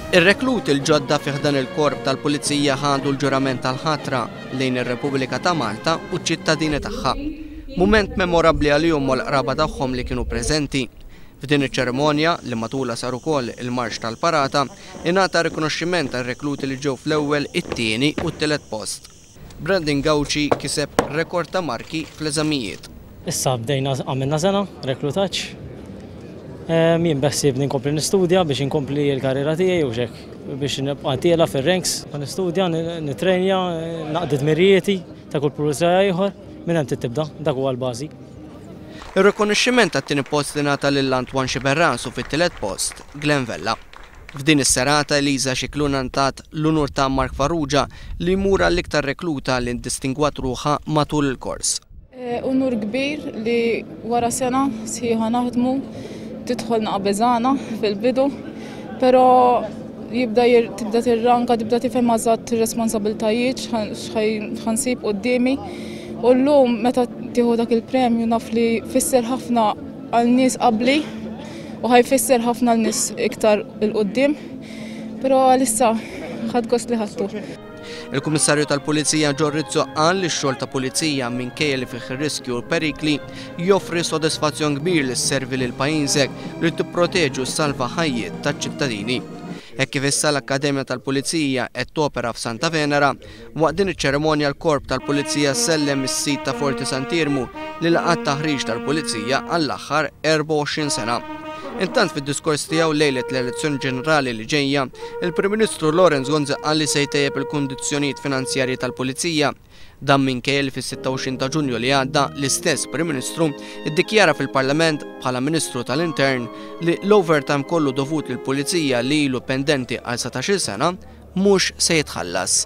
Ir-rekluti l-ġodda fi ħdan il-Korp tal-Pulizija ħadu l-ġurament tal-ħatra lejn ir-Repubblika ta' Malta u ċ-ċittadini tagħha. Mument memorabbli għalihom u għall-qraba tagħhom li kienu preżenti. F'din iċ-ċerimonja, li matulha sar ukoll il-marċ tal-parata, ingħata rikonoxximent għar-rekluti li ġew fl-ewwel, it-tieni u t-tielet post. Brandon Gauci kiseb rekord ta' marki fl-eżamijiet. Issa bdejna għamilna sena reklutaġġ. Jien beħsiebni nkompli nistudja biex inkompli l-karriera tiegħi u x'hekk biex nibqa' tiela' fir-ranks. Ħa nistudja, nittrejnja, naqdi dmirijieti ta' kull pulizija ieħor. Minn hemm trid tibda, dak huwa l-bażi. Ir-rikonoxximent għat-tieni post ingħata lil Antoine Sciberras u fit-tielet post, Glenn Vella. F'din is-serata Eliża Scicluna ngħtat l-unur ta' Mark Farrugia li jmur għall-iktar rekluta li ndistingwat ruħha matul il-kors. Unur kbir li wara sena sħiħa naħdmu tidħol naqbeżana fil-bidu, però jibda tibda tirranka, tibda tifhem għażat responsabiltajiet x'ħansib quddiemi. U llum meta tieħu dak il-premju naf li fisser ħafna għal nies qabli u ħajfisser ħafna l-nis iktar il-qoddim, pero għalissa ħad gost li ħattu. Il-Kummissarju tal-Pulizija Ġor Rizzo qal li x-xogħol ta' pulizija minkejja li fih ir-riskju u l-perikli joffri sodisfazzjon kbir li sservi lil pajjiżek li tipproteġi u ssalva ħajjiet taċ-ċittadini. Hekk kif issa l-Akkademja tal-Pulizija qed topera f'Santa Venera, Waqt din iċ-ċerimonja l-Korp tal-Pulizija sellem is-sit ta' Forti Sant'Iermu li laqa' t-taħriġ tal-Pulizija għall-aħħar 24 sena. Intant fid-diskors tiegħu lejlet l-elezzjoni ġenerali li ġejja, il-Prim Ministru Lawrence Gonzi qal li se jtejjeb il-kundizzjonijiet finanzjarji tal-Pulizija. Dan minkejja li fis-26 ta' Ġunju li għadda l-istess Prim Ministru ddikjara fil-Parlament, bħala Ministru tal-Intern, li l-overtime kollu dovut lill-Pulizija li ilu pendenti għal satax-il sena mhux se jitħallas.